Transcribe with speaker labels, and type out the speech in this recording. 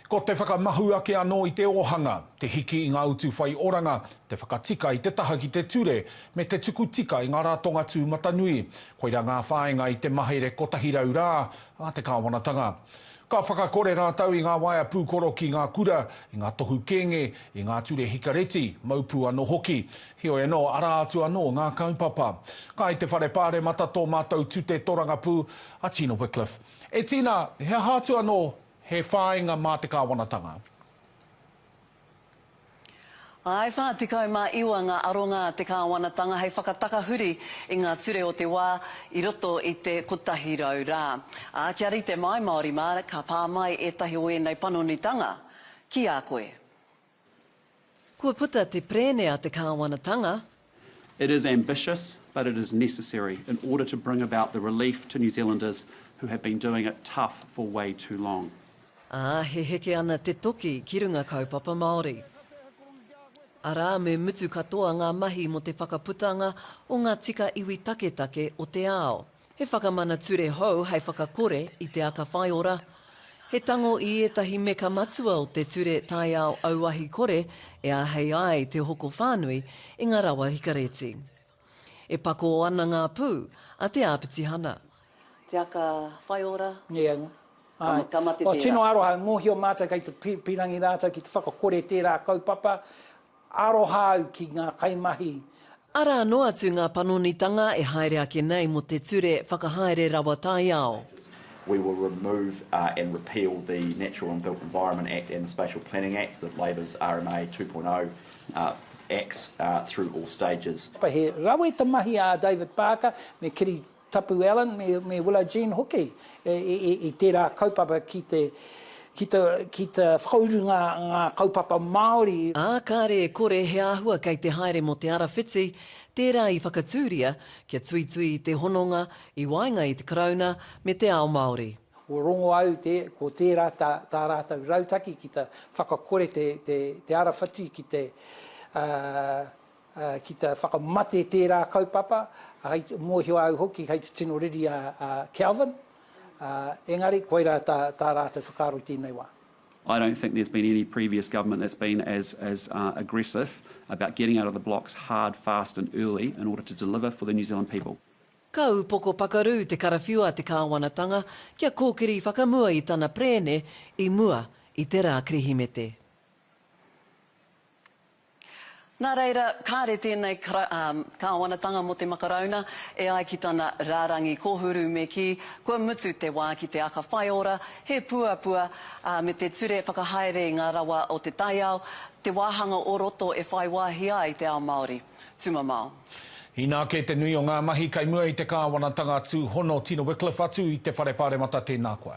Speaker 1: Ko te whakamahu ake anō i te ōhanga, te hiki i ngā utu whai oranga, te whakatika i te taha ki te ture, me te tuku tika i ngā ratonga tūmatanui. Koirā ngā whāinga i te mahere 100 rā a te kāwanatanga. Ka whakakore rātou i ngā waea pūkoro ki ngā kura, i ngā tohu kēnge, i ngā ture hikareti, mau pū anō hoki. Heoi anō, arā atu anō ngā kaupapa. Kai te Whare Pāremata tō mātou tute torangapū, a Tina Wickliffe. E Tina, he aha atu anō He whāinga mā te Kāwanatanga.
Speaker 2: Āe 49 ngā aronga a te Kāwanatanga hei whakatakahuri i ngā ture o te wā i roto i te 100 rā. Ā, kia rite mai Māori mā, ka pā mai ētahi o ēnei panonitanga ki a koe.
Speaker 3: Kua puta te perēne a te kāwanatanga. It is
Speaker 4: ambitious, but it is necessary in order to bring about the relief to New Zealanders who have been doing it tough for way too long. Ā, he
Speaker 3: heke ana te toki ki runga Kaupapa Māori. Arā, me mutu katoa ngā mahi mō te whakaputanga o ngā tika iwi taketake o te ao. He whakamana ture hou hei whakakore i te aka whaiora. He tango i ētahi meka matua o te ture taiao auahi kore e āhei ai te hoko whānui i ngā rawa hikareti. E pakō ana ngā pū a Te Āpitihana. Te aka
Speaker 2: whaiora. Nīenga.
Speaker 5: Āe. Ka mate
Speaker 2: tērā. Tino aroha, mōhio
Speaker 5: mātou kei te pīrangi rātou ki te whakakore tērā kaupapa, Aroha au ki ngā kaimahi. Arā anō
Speaker 3: atu ngā panonitanga e haere ake nei mō te ture whakahaere rawa taiao. We will
Speaker 6: remove and repeal the Natural and Built Environment Act and the Spatial Planning Act, the Labor's RMA 2.0 Acts, through all stages. He rawe te
Speaker 5: mahi a David Parker me Kiri Tapu Allen me Willa Jean hoki i tērā kaupapa ki te ki te ki te whakauru ngā ngā kaupapa Māori. Ā kāre e kore
Speaker 3: he āhua kei te haere mō te ara whiti, tērā i whakatūria kia tuitui i te hononga i waenga i te Karauna me te ao Māori. Kua rongo au
Speaker 5: te ko tērā tā tā rātou rautaki ki te whakakore te te te ara whiti ki te ki te whakamate tērā kaupapa, hei mōhio au hoki hei te tino riri a Kelvin, engari koirā tā rātou whakaaro i tēnei wā. I don't think there's
Speaker 4: been any previous government that's been as as aggressive about getting out of the blocks hard, fast and early in order to deliver for the New Zealand people. Ka upoko
Speaker 3: pakaru te karawhiu a te kāwanatanga kia kōkiri whakamua i tana perēne i mua i te rā Kirihimete.
Speaker 2: Nā reira, kāre tēnei Kāwanatanga mō te Makarauna e ai ki tana rārangi kōhuru me kī, kua mutu te wā ki te aka whaiora, he puapua, ā, me te ture whakahaere i ngā rawa o te taiao, te wāhanga o roto e whai wāhi ai te ao Māori. Tumamao. Inā kē te
Speaker 1: nui o ngā mahi kei mua i te Kāwanatanga tūhono Tina Wickliffe atu i te Whare Pāremata tēnā koa.